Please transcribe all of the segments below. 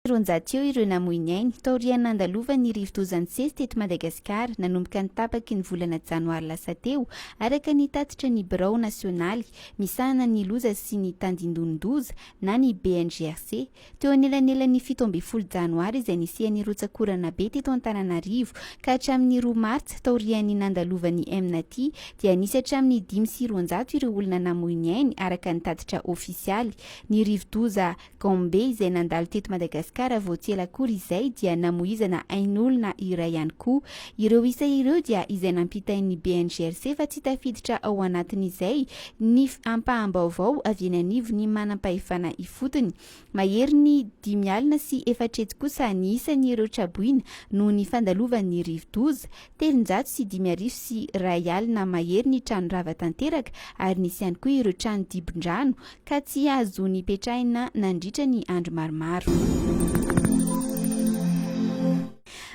sy roanjato eo ireo namoy ny ainy, taorian'ny nandalovan'ny rivodoza nisesy teto Madagasikara, nanomboka ny tapaky ny volana janoary lasa teo, araka ny tatitra ny Birao nasionaly misahana ny loza sy ny tandindonin-doza na ny BNGRC. Teo anelanelan'ny fito ambin'ny folo janoary izay nisian'ny rotsak'orana be teto Antananarivo ka hatramin'ny roa martsa taorian'ny nandalovan'ny Mnati dia nisy hatramin'ny dimy sy roanjato ireo olona namoy ny ainy, araka ny tatitra ofisialy. Ny rivodoza. Gombe izay nandalo teto Madagasikara vao tsy ela akory izay dia namoizana ain'olona iray ihany koa. Ireo isa ireo dia izay nampitain'ny BNGRC fa tsy tafiditra ao anatin'izay ny ampaham-baovao avy eny anivon'ny manam-pahefana ifotony. Maherin'ny dimy alina sy efatretsy kosa ny isan'ireo traboina noho ny fandalovan'ny rivodoza. Telonjato sy dimy arivo sy iray alina mahery ny trano rava tanteraka ary nisy ihany koa ireo trano dibon-drano ka tsy azo nipetrahina nandritra ny andro maromaro.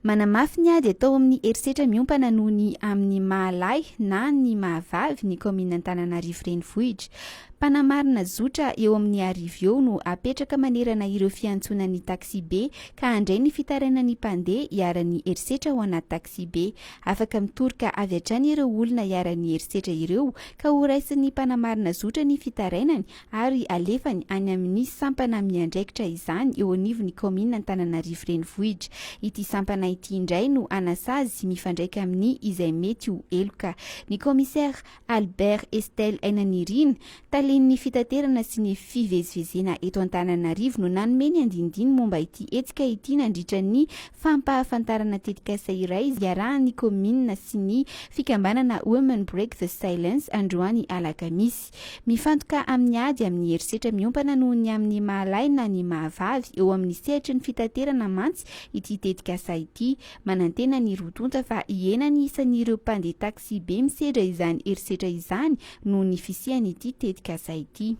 Manamafy ny ady atao amin'ny herisetra miompana noho ny amin'ny maha lahy na ny maha vavy ny kaominina Antananarivo Renivohitra. Mpanamarina zotra eo amin'ny arivo eo no apetraka manerana ireo fiantsonan'ny taxi-be ka handray ny fitarainan'ny mpandeha iharan'ny herisetra ao anaty taxi-be. Afaka mitoroka avy hatrany ireo olona iharan'ny herisetra ireo ka horaisin'ny mpanamarina zotra ny fitarainany ary alefany any amin'ny sampana miandraikitra izany eo anivon'ny kaominina Antananarivo Renivohitra. Ity sampana ity indray no hanasazy mifandraika amin'ny izay mety ho heloka ny kaomisera Albert Estelle Ainanirina, talen'ny fitaterana sy ny fivezivezena eto Antananarivo no nanome ny andinindiny momba ity hetsika ity nandritra ny fampahafantarana tetikasa iray iarahan'ny kaominina sy ny fikambanana Women Break the Silence androany alakamisy. Mifantoka amin'ny ady amin'ny herisetra miompana noho ny amin'ny maha lahy na ny maha vavy eo amin'ny sehatry ny fitaterana mantsy ity tetikasa ity, Manantena ny roa tonta fa hihena ny isan'ireo mpandeha taksibe misedra izany herisetra izany noho ny fisian'ity tetikasa ity.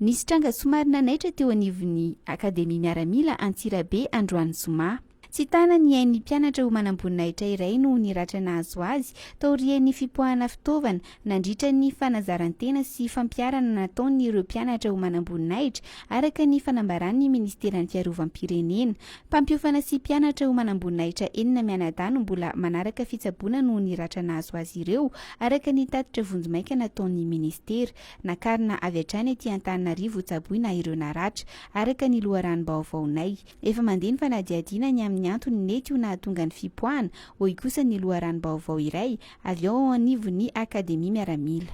Nisy tranga somary nanaitra teo anivon'ny Akademia Miaramila Antsirabe androany zoma. Tsy tana ny ain'ny mpianatra ho manamboninahitra iray noho ny ratra nahazo azy taorian'ny fipoahana fitaovana Nandritra ny fanazaran-tena sy fampiharana nataon' ireo mpianatra ho manamboninahitra, araka ny fanambaran' ny Ministeran' ny Fiarovam-pirenena, mpampiofana sy mpianatra ho manamboninahitra enina mianadahy no mbola manaraka fitsaboana noho ny ratra nahazo azy ireo, araka ny tatitra vonjimaika nataon' ny Ministera. Nakarina avy hatrany aty Antananarivo hotsaboina ireo naratra, araka ny loharanom-baovaonay. Efa mandeha ny fanadihadiana ny amin' ny antony nety ho nahatonga ny fipoahana, hoy kosa ny loharanom-baovao iray, avy ao anivon'ny Akademia Miaramila.